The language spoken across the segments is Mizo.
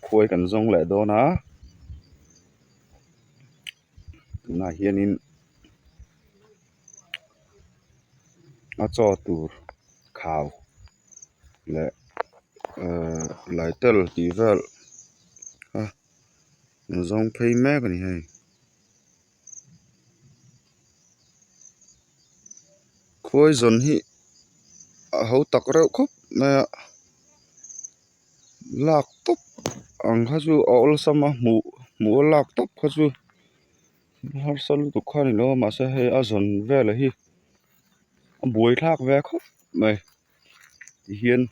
khuai kan zawng leh dawn a tunah hianin a chaw tur khau leh ehh lai tel tih vel a zawng phei mek a ni hei. khawizawn hi a ho tak reuh khawp mai a lak tawp ang kha chu a awlsam a hmuh hmuh a lak tawp kha chu harsat lutuk kha a ni lo a mahse hei a zawn velah hi a buai thlak ve khawp mai tihian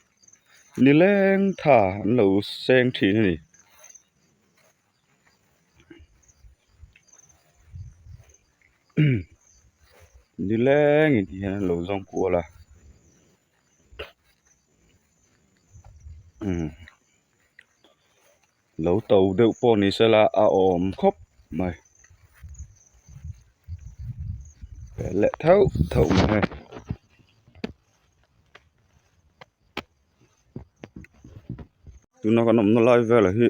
ni leng tha an lo seng thin a ni. ni leng in tih hian an lo zawng kual a lo to deuh pawh ni se la a awm khawp mai pe leh theuh theuh mai. tuna kan awmna lai velah hi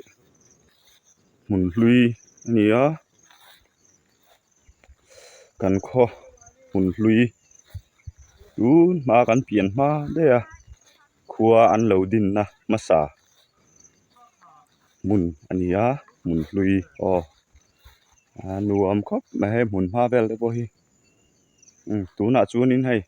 hmun hlui a ni a kan khaw hmun hlui tun hma kan pian hma daih a khua an lo din na hmasa hmun a ni a hmun hlui aw a nuam khawp mai he hmun hma vel te pawh hi tunah chuan in hei--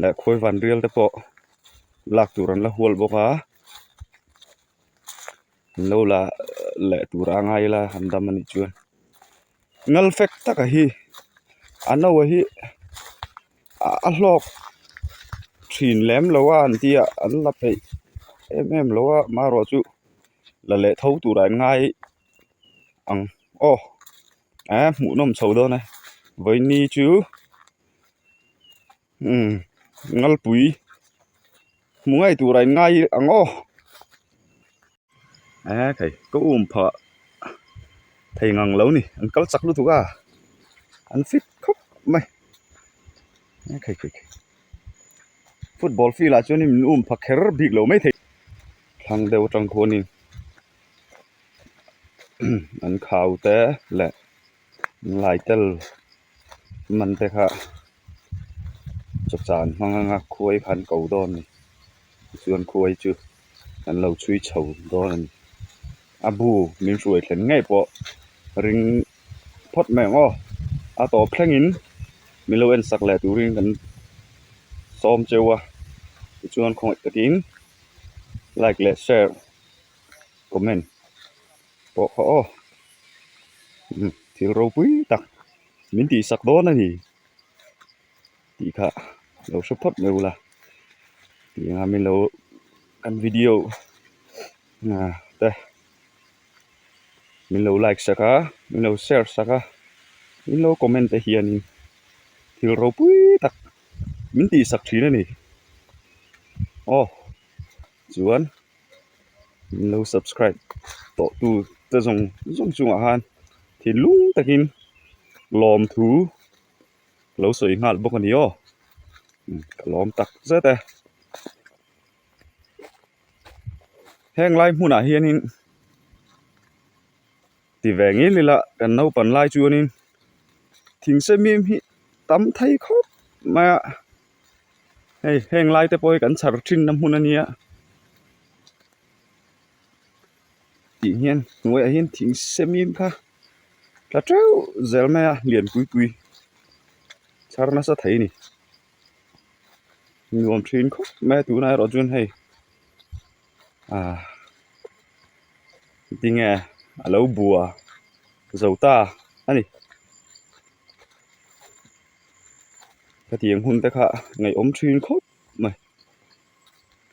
leh khawi van rial te pawh lak tur an la hual bawk a an lo la leh tur a ngai ila han dam a nih chuan ngal fek taka hi a no a hi a hlawk thin lem lo a an tia an la peih em em lo a amaherawhchu la leh tho tura an ngai ang aw. aa hmuh nawm chho dawn a vaini chu umm ngalpui hmu ngai tura in ngai ang aw aa thei ka um phah thei ngang lo ni an kal chak lutuk a an fit khawp mai aa thei thei thei football field ah chuan in min um pha kher bik lo mai thei thlang deuh atang khuan in. an khau te leh inlai tel man te kha cha chan hmang anga khuai kha an ko dawn a ni tichuan khuai chu an lo chhui chho dawn a ni a bu min hruai thlen ngei pawh ring phawt mai ang aw a tawp thleng in min lo en sak leh turin kan sawm cheu a tichuan khawngaih takin like leh share -- comment pawh khaw aw umm thil ropui tak min tih sak dawn a ni tih kha lo hre phawt mai bula tiang min lo kan video ah te min lo like sak a min lo share sak a min lo comment te hian in thil ropui tak min tih sak thin a ni aw. Chuan min lo subscribe tawh tu te zawng zawng chungah khan thinlung takin lawm thu lo sawi nghal bawk a ni aw, ka lawm tak zet e. Heng lai hmunah hianin. ti ve ngei ngei la kan naupan lai chuanin thing sep miam hi tam thei khawp mai a hei heng lai te pawh hi kan chhar thinna hmun a nia tih hian hnuaiah hian thing sep miam kha tha teuh zel mai a lian pui pui chhar nasa thei a ni nuam thin khawp mai a tunah erawh chuan hei-- ah tinge a lo bua zo ta a ni hetiang hmun te kha ngaihawm thin khawp mai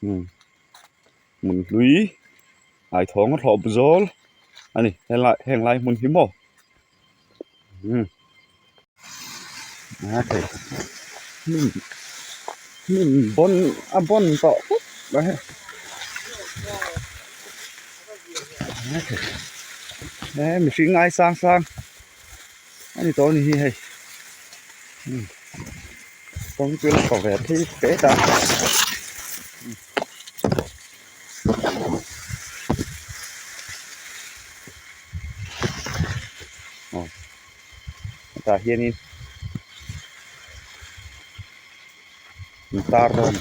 hmm hmun hlui hnaithawng a hlawp zawl a ni heng lai hmun hi maw. umm a hei hnim hnim bawn a bawn tawh vek mai a he he mihring ai sang sang a ni tawh a ni hi hei umm kawngpui lakaw ve phei phei ta umm. tah hianin in tar dawn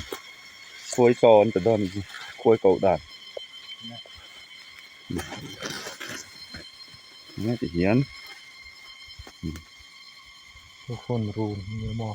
khuai chaw an pe dawn zi khuai koh dan nge ti hian telephone room emaw.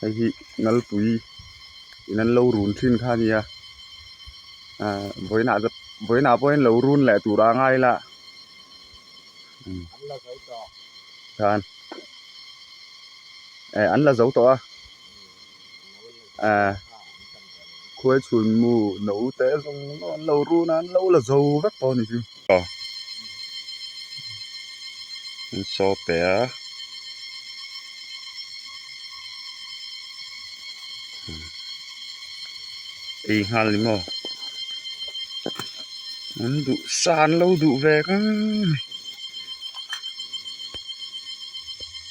hei hi nalpui in an lo run thin kha a nia ahh vawiinah te vawiinah pawh hian lo run leh tur a ngai la an la zo tawh a. ah khual chhun mu no te zawng zawng an lo run a an lo la zo vek pawh ani chu aw an saw pe a ei nghal ni maw an duh sa an lo duh ve ngang ni.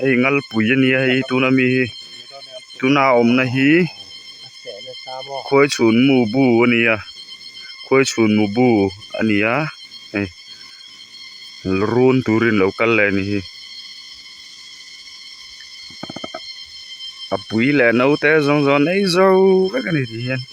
hei ngalpui a nia hei tuna mi hi tuna awmna hi khuai chhun mu bu a nia khuai chhun mu bu a nia hei run turin lo kal leh a ni hi a pui leh no te zawng zawng a nei zo vek a ni tih hian --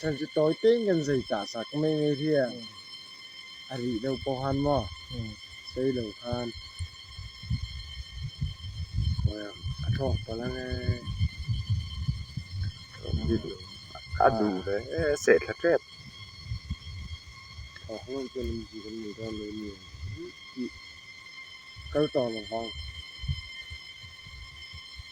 Sen chu tawi teng kan zai ta sa ka mai mai hi a a ri lo pawh han maw sei lo khan well a thawk pawh la nge a du ve e se thla tep thawk lo chu lam zui kan nei dawn lo ni tih kal tawn ang vang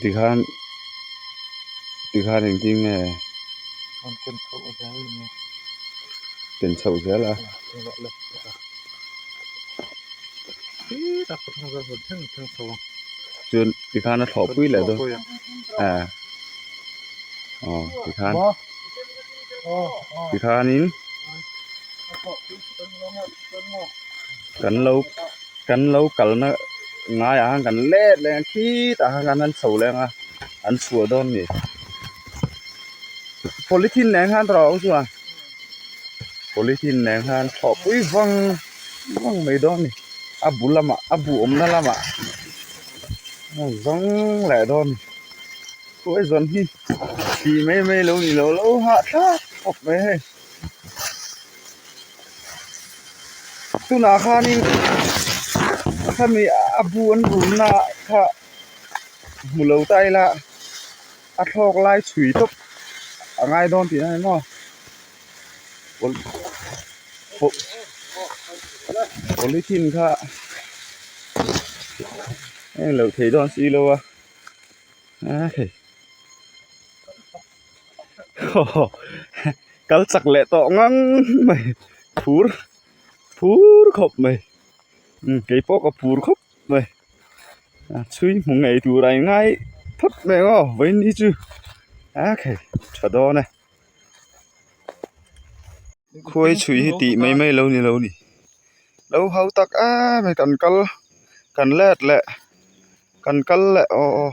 tikhan tikhan eng ti nge ken chho zel a chuan tikhan a thlawh pui leh dawn ah aw tikhan tikhanin kan lo. kan lo kalna ngai ah khan kan let leng a khit ah khan an chho leng a an chhuah dawn ni polythene nen khan tawrh ang chuan polythene nen khan thlawhpui vang vang mai dawn ni a bul lamah a buhawmna lamah zawng leh dawn ni khuaizawn hi thih mai mai lo ni lo lo hah thlak khawp mai hei tunah khanin a family a bu an rumna kha hmu lo ta ila a thlawk lai chhui tawp a ngai dawn tih ang aw polythene kha englo thei dawn si lo a a-- haw kal chak leh tawh ngang mai phur phur khawp mai kei pawh ka phur khawp mai a chhui hmu ngei tur a ingai phawt mai ang aw vaini chu a khe tha dawn e khuaii chhui hi tih mai mai lo ni lo ni lo ho tak a mai kan kal kan let leh kan kal leh aw aw.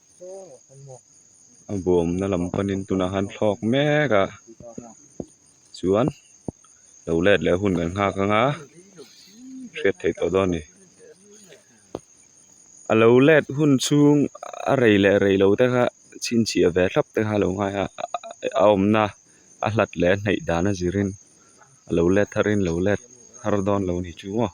a bawmna lam panin tunah khan thlawk mek a chuan lo let leh hun kan nghak ang a hriat theih tawh dawn a ni a lo let hun chhung a rei leh rei lo te kha chhinchhiah ve thlap te kha a lo ngai a a awmna a hlat leh a hnaih dan a zirin a lo let thar in lo let thar dawn lo ni chu maw.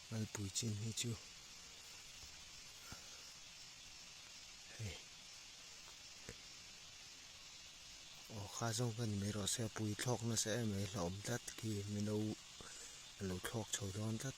Ngalpui chin hi chu hei aw kha zawng ka ni mai erawh se pui thlawk nasa em mai hlauh awm tlat khi mino a lo thlawk chho dawn tlat.